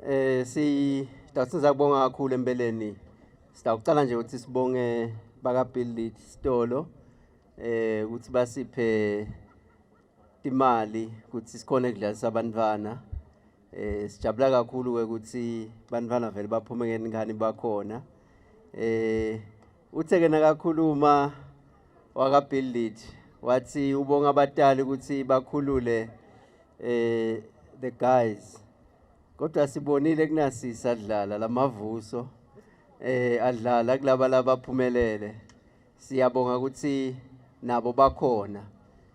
Eh si dawusiza kubonga kakhulu empeleni. Sitawucala nje ukuthi sibonge baka Build It Stolo eh ukuthi basiphe imali ukuthi sikhona kudlalisa abantwana eh sijabula kakhulu ukuthi bantwana vele baphume ngengane bakhona eh Uthe ke nakakhuluma wakaBuild It wathi ubonga abatali ukuthi bakhulule eh the guys kodwa sibonile kunasisa adlala lamavuso eh adlala kulaba labaphumelele siyabonga ukuthi nabo bakhona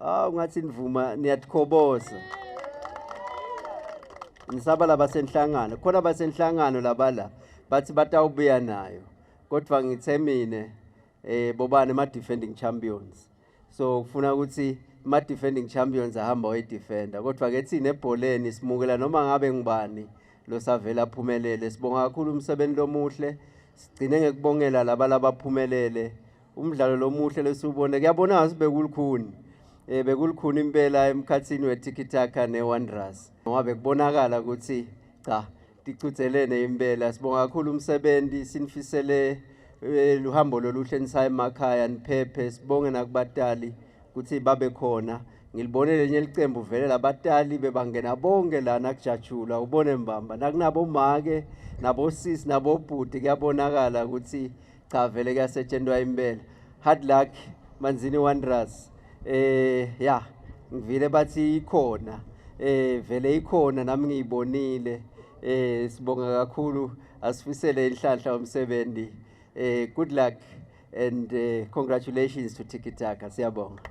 Ah ungathi nivuma niyathokoboza. Ngisaba labasenhlangano. Khona basenhlangano labala bathi batawubuya nayo. Kodwa ngithe mina eh bobani ama defending champions. So kufuna ukuthi ma defending champions ahamba way defender kodwa ke thina ebholeni simukela noma ngabe ngubani lo savela aphumelele sibonga kakhulu umsebenzi lomuhle sigcine ngekubongela laba labaphumelele umdlalo lomuhle lesiwubone kuyabona ngathi bekulukhuni eh bekulukhuni impela emkhathini weTikitaka neWanderers ngoba bekubonakala ukuthi cha ticuthelene impela sibonga kakhulu umsebenzi sinifisele eh, luhambo loluhle nisaye emakhaya niphephe sibonge nakubatali ukuthi babe khona ngilibone lenye licembu vele labatali bebangena bonke lana kujatshula ubone mbamba nakunabo make nabo sisi nabo bhuti kuyabonakala ukuthi cha vele kuyasetshentwa impela hard luck manzini wanderers eh ya ngivile bathi ikhona eh vele ikhona nami ngiyibonile eh sibonga kakhulu asifisele inhlanhla umsebenzi eh good luck and uh, congratulations to Tiki Taka siyabonga